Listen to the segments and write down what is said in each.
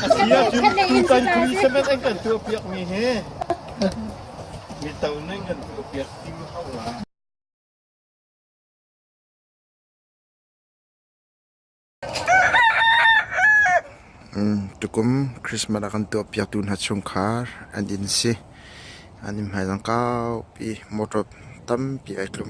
A si ahcun tutan Christmas an kan tuahpiakmi hi mito nih kan tuahpiak ding hau lai. tukum Christmas a kan tuah piak tu hna chung khar an in si an in hmai zang kau pi motor tam pi ai tlum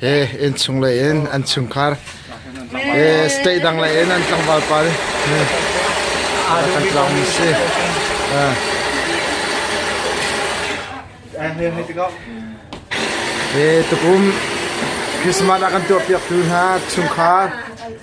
Innchung lei in an chungkhar, state dang lei in an tlangval pa kan tlawn si. Tukum Christmas a kan tuah piak tu hna chungkhar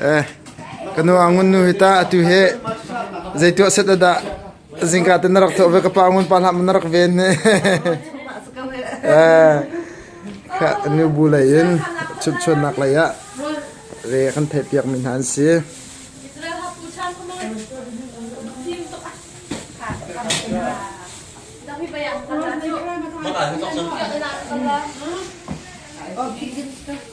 Eh, kanu angun nu hita atu he zeitu set ada zingka ten rak tho ve ka pa ngun pa lam rak ven ne eh ka nu bu lai in chut chun nak lai ya re kan thai piak min han si Mana itu tak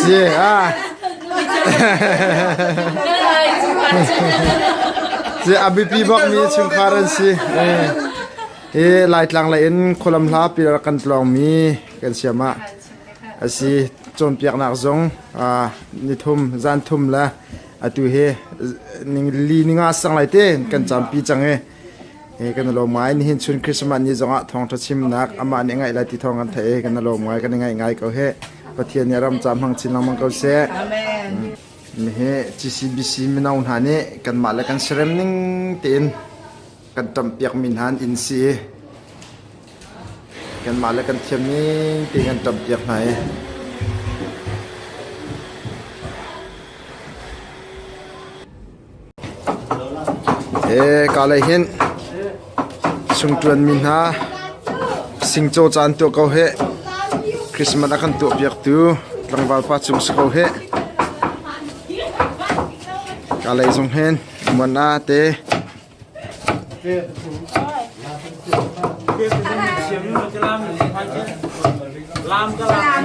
Si ah. Si a bipi bak mi chungkhar an si. Eh. Eh laitlang la in kholam hla pilar kan tlong mi kan siam ah. Asi cawnpiak nak zong ah ni thum zan thum la atu he ning li ninga sang lai te kan champi chang e kan i lawm ngai. Nihin chun Christmas ni zongah thawngṭha chimnak amah nih a ngaih lai ti thawng kan theih i kan i lawm ngai, kan i ngaih ngai ko hih. Pathian nih a ram ca hmang chin lengmang ko seh. Amen. Nihi CCBC mino hna nih kanmah le kan serem ning tein kan ṭampiakmi hna an inn si i kanmah le kan thiam ning tein kan ṭampiak hna i Kalay hin sungṭuanmi hna singcaw caan tuah ko hih. Christmas a kan tuahpiaktu tlangval pa cung si ko hih. Kalay zong hin muan ah te lam ka lam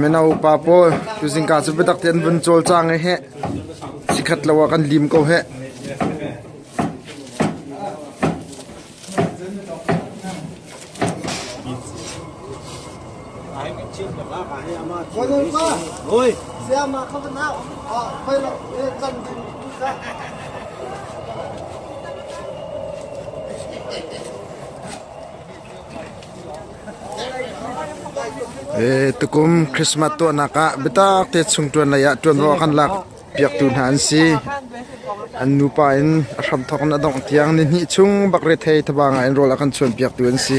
Mino pa pawl tuzingka cu biatak tein an vun cawl cang i heh chikhat lo ah kan lim ko heh. Tukum Christmas tuahnak ah biatak te chung ṭuan lei ah ṭuanvo a kan lakpiaktu hna an si. An nupa in a hram thawk in a dongh tiang ni hnih chung bakretei thaba ngai in rawl a kan chuanpiaktu an si.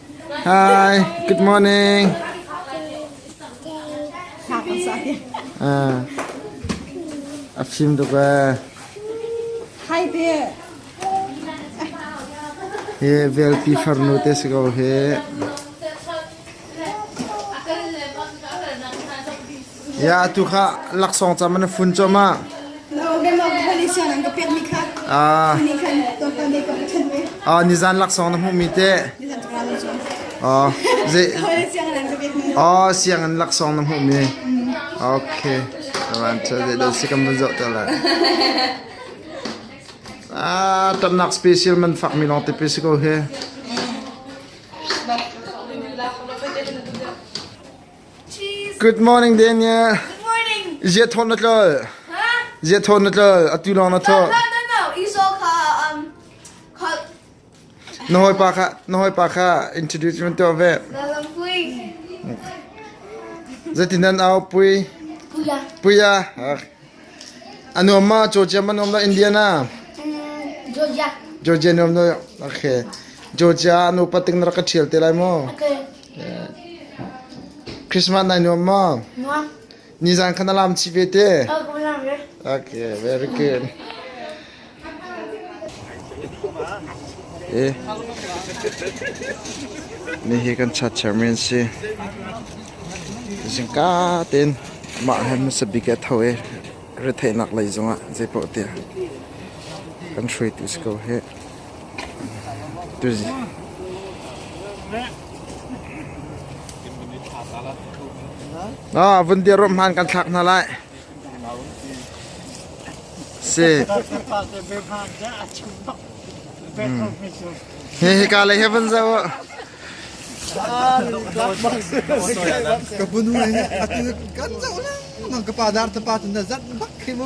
Hi, good morning. Uh, a film tuk eh. Hi there. Hi velpi farnu te si ko hi. atu kha laksawng cam na fun cuahmah ah nizan laksawng na hmuhmi te oh ze oh siangin laksawng na hmuhmi okay ran cha ze do sikam van zo ta la ah tamnak special man fak mi long te pe siko he Good morning Daniel. Ziathawt na tlol. Ziathawt na tlol. Atu lawng na thawh. No, no, no. Esau kha um kha Na hawipa kha na hawipa kha introduce man tuah ve. na lam pui. Zatinan au pui. Kuya. Puya. Ah. Anuam ma Georgia man om la Indiana. Mm, Georgia. Georgia nuam no. Okay. Georgia anu pating na ka thial te lai mo. Okay. Christmas nai nuam maw? Nuam. Nizan khan alam chi ve te. Oh, alam ve. Okay, very good. Eh. Ni hi kan chat chairman si. Zingka ten mah han masa big at ho e rethenak lei zongah zei po te kan shui tu sko he Ah, vun dir rom han kan thlak hna lai. Si. He he ka le heaven za wo. Ka bunu ne atu kan za na. Nang ka pa dar ta pa tun da zat bak khi mu.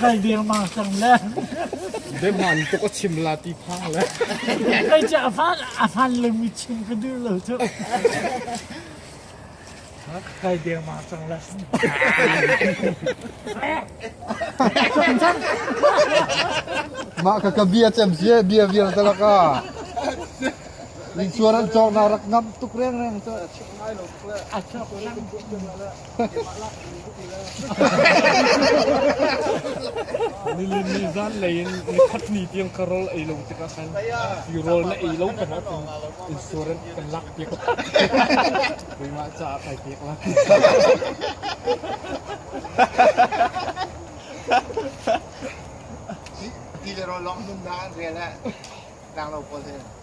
Kai dirmang cang le. Biahman tuk a chim la ti phang le. Kai cu a fan a fan le mi chim ka duh lo cu. Kai dirmang cang le. Mah ka ka bia cem sie bia vial ta laka. Ning chuan an cawk na rak ngam tuk reng reng cu a chuk ngai lo tuk le. A chuk ngang. Nilin ni zanlei in ni khat ni tiang ka rol ei lo tikah khan i rol na ei lo kan ah insurance kan lak piak. Keimah caah kai pek la. Ti le ro long num da an re le. Tang lo pawl hin.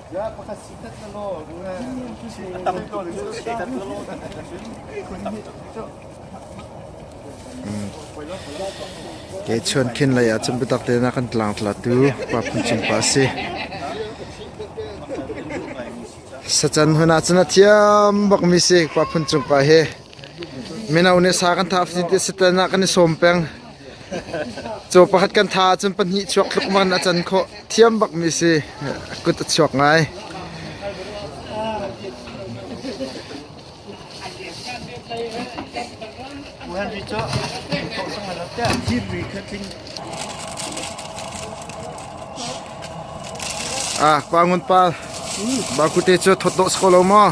Ke chuan khin lei ah cun biatak te nak an tlang tla tu pa phun cin pa si. Sachan huna cun a thiam bak mi si pa phun cung pa hi. Mino nih sa kan tha hrim ti sitan ah kan i sawm peng. Caw pakhat kan tha ahcun pahnih chuak tluk man a can khawh. Thiam bak mi si kut a chuak ngai. Buhan ri cu thawh sang lo tiah thir ri kha tling Ah, pa ngun pa. Ba kute cu thot lo sako lo maw?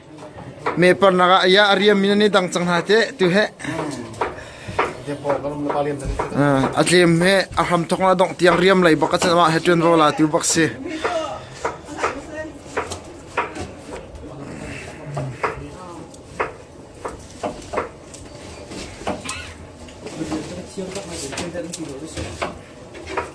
Meparnak ah ya a riammi nan i dang cang hna teh tu he. A tlem he a hram thong la dongh tiang riam lei bak a cawmah he ṭuan vo la tu bak si.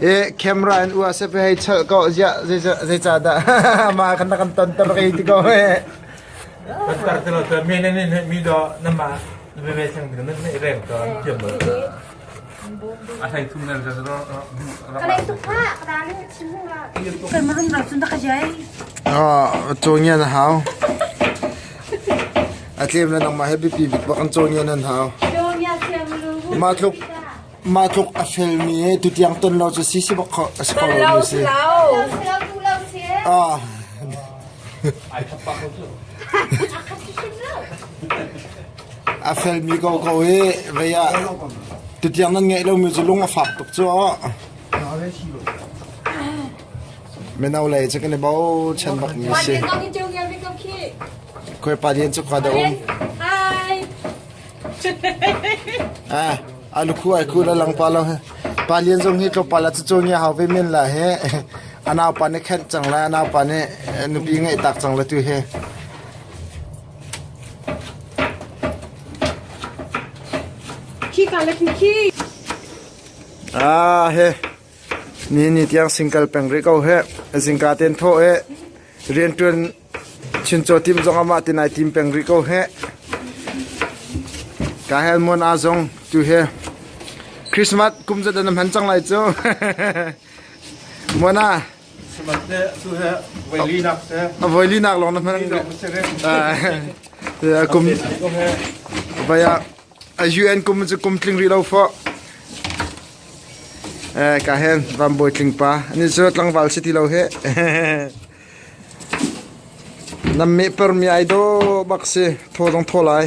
Eh camera in ua se pe hai chal ko ja ze ze cha da ma kan kan ton ton ke ti ko he tar te lo te me ne ne mi do na ma me me sang mi na ne reng to tiam A hlei thum ner rak rak Kan marum rak cun tak jai. Ah, chong yan hau. A tlem na nang ma happy pi bit bakan chong yan an hau. Ma thuk ma thuk a fel mi he tu tiang ton lo chu si si bak kho a ko lo mi si. Ah. Ai thap pa ko A felmi ko ko i vei ah tutiang nan ngeih lomi cu lung a fak tuk cu. Mino lei cu kan i bochan bak mi si. Koi pa dian cu khua da um. Ah, alu khu ai khu la lang pa lo he. Pa lian zong hi tlawpa la cu ngi hau ve men la he. Anau pa nih khenh cang la, anau pa nih nupi ngeih tak cang la tu he. Nihin ni tiang sing kal peng rih ko hih. Zingka tein thawh i rianṭuan chincaw tim zong amah te nai tim peng rih ko hih. Kahel Muan A zong tu he Christmas kum zat an hman cang lai cu. Muana A voilinak lawng na hman. A kum vaya a UN kum cu kum tling ri lo fo. Eh ka hen van boy tling pa. Ani cu tlangval city lo he. Nam me per mi ai do bak si tho dong tho lai.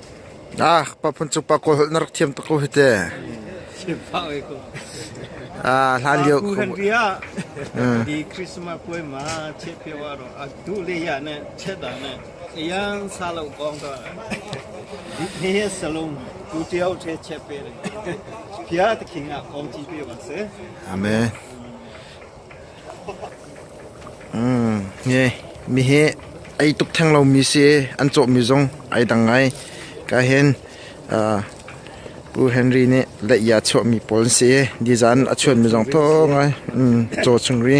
Paphun cung pa Kawl holh na rak thiam tuk ko hi te. Hlanlio khuamu. Di Christmas puai ma chiat pio a ro a tu le ya ne chet da ne yang sa lo kong to di he salon tu tiao che chet pe ne pia te khing a kong chi pe wa se amen Mi hi ei tuk theng lomi si i an cawhmi zong ai dang ngai. Ka hin Pu Henry nih leih a chuahmi pawl an si i design a chuanmi zong thaw ngai caw chung ri.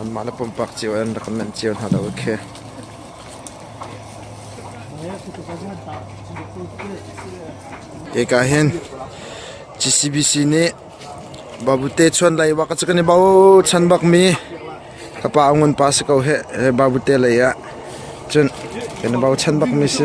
Anmah le pumpak cio in rak kan manh cio hna lo khi. Eka hin GCBC nih babute chuan lai wa ka kan i bao chan bak mi ka pa ngun pa se ko he babute lei ah cun kan i bao chan bak mi si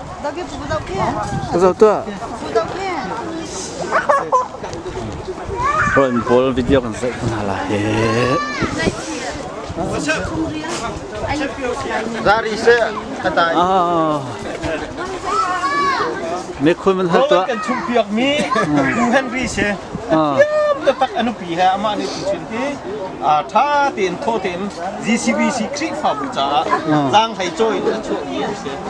Zoh tuah. Ron pawl video kan set hna la he. Zari se katai. Ah. Me khun man hat tuah. Kan chung piak mi U Henry se. Ah. Te tak anu pi ha ama ni tu chin ti. A tha ten tho ten GCBC Khrihfa bu cha. Zang hai choi chu ni se.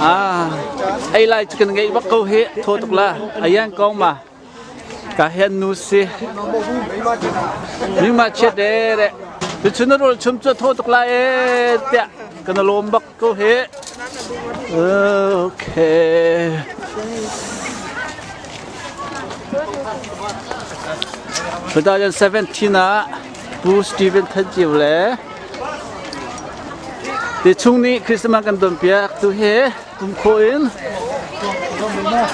Ah, ai lai cu kan ngaih bak ko hi tho tuk la ayan kong ma ka hen nu si mi ma che de re tu chun rol chum chu tho tuk la e tia kan lom bak Ko he. Okay. Battalion 17 ah Pu Stephen Than Ciu le ti chung nih Christmas kan don piak tu he kum kho in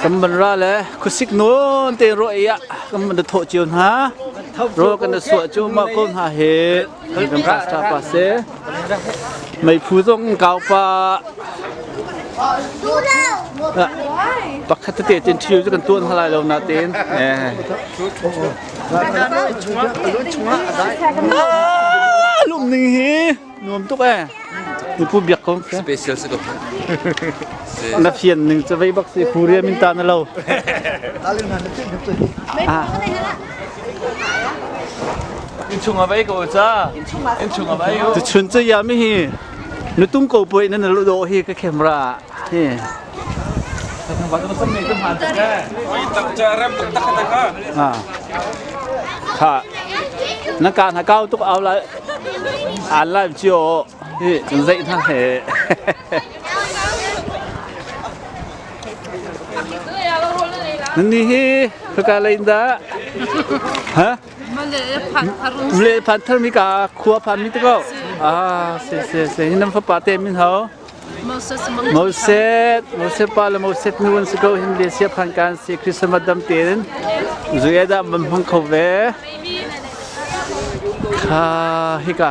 kan man ra le khusik non te ro ya kan man da tho ciu hna ro kan da suwa cu ma ko hna he Kan kan rak ṭah pa se. Meiphu zong in kau pa. Pakhat tete tin ṭhio cu kan tuan hna lai lo natin. Lum ning hi nuam tuk eh. Nipu biak ko. Special si ko. Na fian ning cu vei bak si puriam in ta na lo. Innchung ah vai ko ca. Innchung ah vai ko. Tuchun cha ya mi hi nutung ko poi nan lu do hi ka camera hi. Ha. Ha. Na ka na kau tuk au la. An lai chiu hi zai na he. Nannih hi hika lei in dah? Ha? Ule phan thar mi ka khua phan mi te ko. Ah, se se se hinan fapa te min hau. Moses, Moses pa le Moses nu an si ko hin le sia phan kan si Christmas dam te in zuya da man hmang kho ve. Ha hika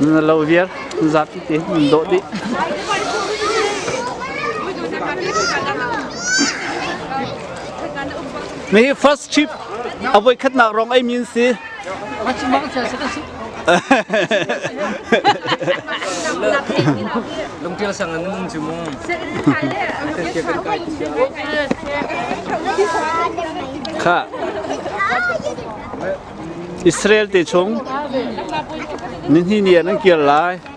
Na lo viar zat ti nan do di. Me first trip avoi khat na rong ai min si. Lungtial sang an cu mu. Kha Israel te chung ni hni ni an kir lai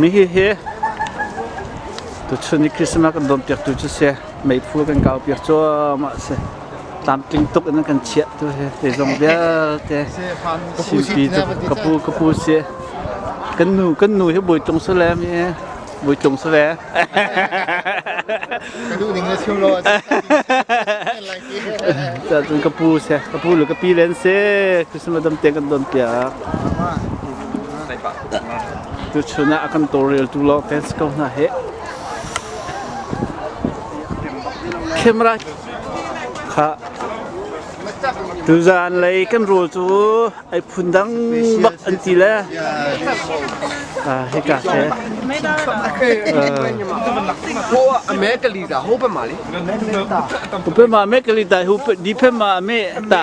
Mihihi tuchun i Christmas kan dawmpiaktu cu si, meiphu kan kaupiak cuahmah a si. Tlamtling tuk in kan chiah tu hi, te zong vialte. Chimpi cu kapu kapu si. Kan nu kan nu hi bawi tung su le mi bawi tung su le. Ka duh ning le chiu law Cun ka pu si, ka pu le ka pi len si, Christmas dam tiang kan don piak. Tuchun ah a kan tawlreltu lawngte si ko hna heh. Camera kha tuzan lei kan rul cu ai phun dang bak an ti le a hika ke Americally da hope mali. Upe ma Americally ta hu di pe ma me ta.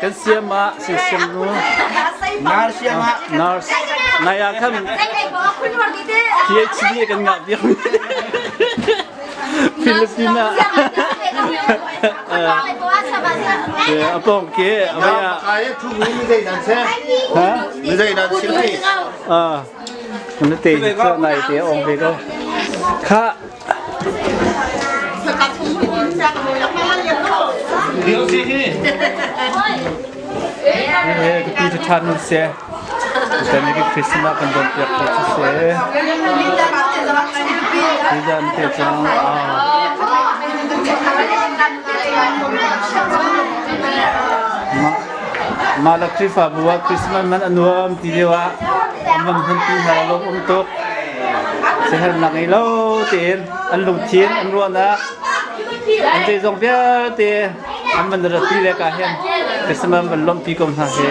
Kan siam ah si siam nu. Nurse siam ah. Nurse. Nai ah khan PhD kan ngah biak mi. Filipina. Apong ke abaya. Kai thu mi mi dei nan se. Ha? Mi dei nan si. Ah. Kan te so nai te ong ke ko. Kha Ka pi cu ṭhan u sih. Tutan ni Christmas ah kan don piak ko cu sih. Hi zan te cang mah la Khrihfabu ah Christmas man a nuam ti deuh ah an van hmanpi hna lawm um tuk. siaherhnak ngei lo tiin an lungthin an ruahnak an te zong vialte an van ratpi le ka hen Christmas van lompi ko hna he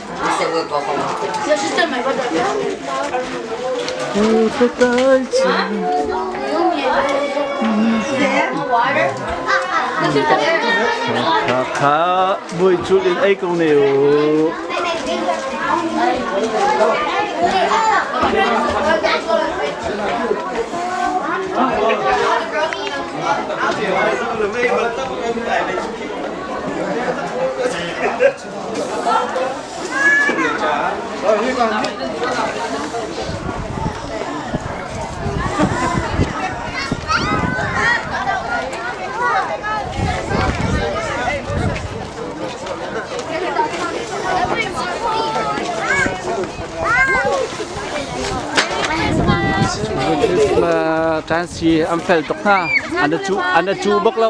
Patai Kha buai cul in ai ko ne o. Christmas tan si an fel tuk hna an a cu an a cu bak lo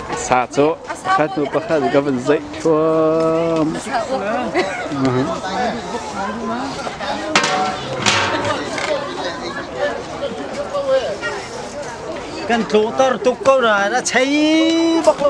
Sa cu pakhat hnu pakhat ka van zeih thluam. Kan tlutar tuk ko na na chei bak lo.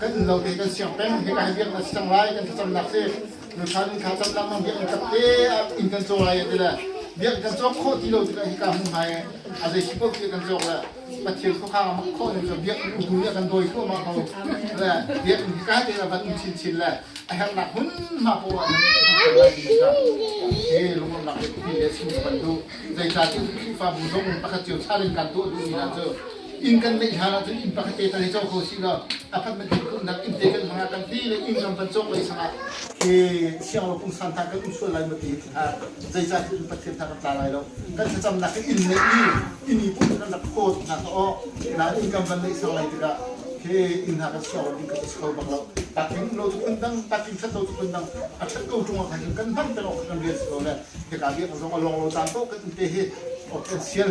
kan lo te kan siang peng he kai biak na siang lai kan cam nak si nukhan kha cam nak mang biak in kap te in kan cho lai ti le biak kan cho kho ti lo ti hi ka hun hai a zei khi ko ti kan cho le pathian ko kha ma kho ni ka biak u ya kan doi ko ma ko le biak ni ka te la ban chin chin le a her nak hun ma po wa eh lungam nak ti le sin ban du zei ta ti fa bu zong pakhat chiu sa den kan to du ni na cho inn kan ngeih hlan ahcun inn pakhat te tan hi co kho si lo apartment he kumnak inn te kan hmanga kan ti le inn lam pan cawk lei sangah hi sianglo pungsan tha kan um sual lai maw ti hi hna zeicah cu pathian tha kan tla lai lo kan thlacamnak in inn neihmi inn i pum kan rak phawt hna aw nain inn kan van neih sang lai tikah hi inn hna kan siang lo ding kan si kho bak lo takin lo tu phun dang takin khat lo tu phun dang a that ko ṭung kha kan hman peng awk kan rian si lo le hika biak zong a long lo tang ko kan te hi ok kan sial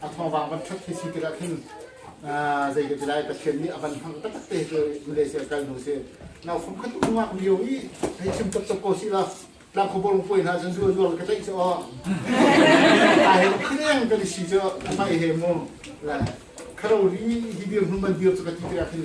a thawngvang van ṭhat khi si tikah khin zei ka ti lai Pathian nih a van hang taktak te cu Malaysia kal hnu si nau fam khat ungak lio i hei chim tuk tuk ko si la tlang khuborong puai hna cun zuar zuar ka tlaih cu aw ai khileng kan si cu mai he mu kharori hi dir hnuman dir cu ka ti tikah khin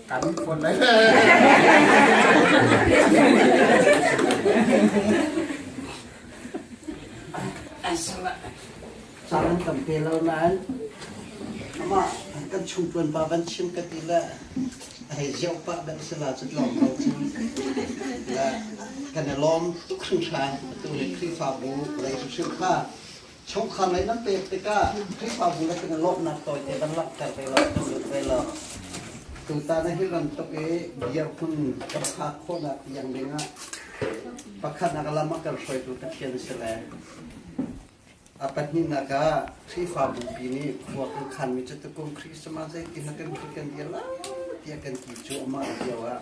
Kan phone lai. Caan an kan pe lo nain amah kan chung tuan pa van chim ka ti le hei ziau pa ban si la cu lawm lo cu le kan i lawm tuk hring hran tu le khrihfabu lei hrim hrim kha chungkhar ngaih nan pek tikah Khrihfabu lakin a lawmhnak tawite kan langhter ve lo, kan zulh ve lo. Tutan hi bantuk i dirhmun ka phak khawhnak tiang dingah pakhatnak lam a kan hruaitu Pathian a si le a pahnihnak ah Khrihfabu pi nih khua kan khanmi cu tukum Christmas zeitin a kan kan dir lai tiah kan ti cu amah lio ah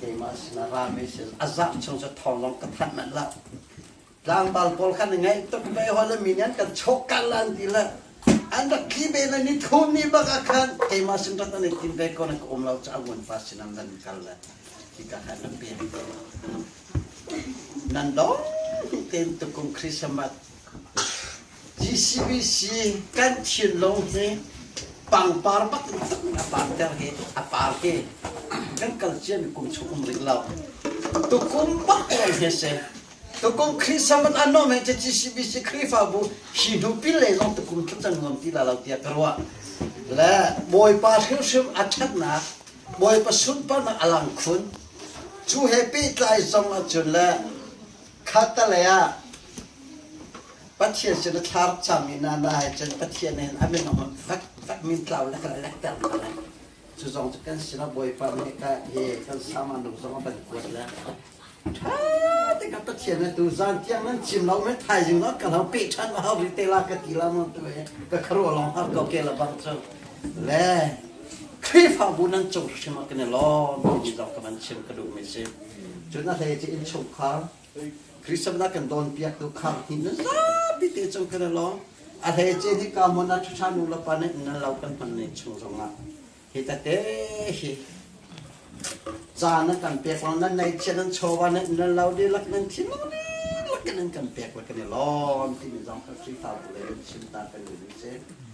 keimah sinah ra me sin a zah chung cu thawng lawng ka thanh manh la tlangval pawl khan ngaih tuk ve hol mi nih an kan chawk kal lan ti la an rak thli ve le ni thum ni bak ah khan keimah sin rat an i tim ve ko na ka um lo ca ngun pa sin am nan kal le ti ka khan an pian te nan dong ten tukum christmas GCBC kan thinlung hi pangpar bak in tak in a parter hi a par hi kan kal ciami kum chung um ring lo tukum bak lawng hi si tukum Khrihfa mat an nom he GCBC Khrihfabu hi hnu pin lei lawng tukum thut cang ngam ti la lo tiah ka ruah le bawipa hrimhrim a ṭhatnak bawipa sunparnak a lang khun cu he pehtlai zong ahcun le Khatalei ah Pathian sin a thlar cang i nana he cun Pathian he a min on fek fek min tlau le ka lek ter ka lek cu zong cu kan sinah Bawipa nih ka hi kan samanu zong a ban kuat le ṭha te ka Pathian ne tu zan tiang nan chim lo me thaizing no ka lo pe ṭhan ma hau ri te la ka ti la mo tu e ka kharo long ha ko ke la bang chang Le Khrihfabu nan cung hrim ah kan i lawm timi zong ka van chim ka duhmi a si. Cun a hlei ti innchungkhar Christmas kan cawnpiaktu khang hi na zapi te cung kan i lawm. A hlei ci hi ka mon a ṭha nu le pa nih nan lo kan hman ning chung zong ah hi tate hi zaan nan kan pek lo nan nei chia nan chawva nan nan lo dihlak nan thi lo dihlak nan kan pek le kan i lawm timi zong ka Khrihfabu lei in chim ta kan ni si.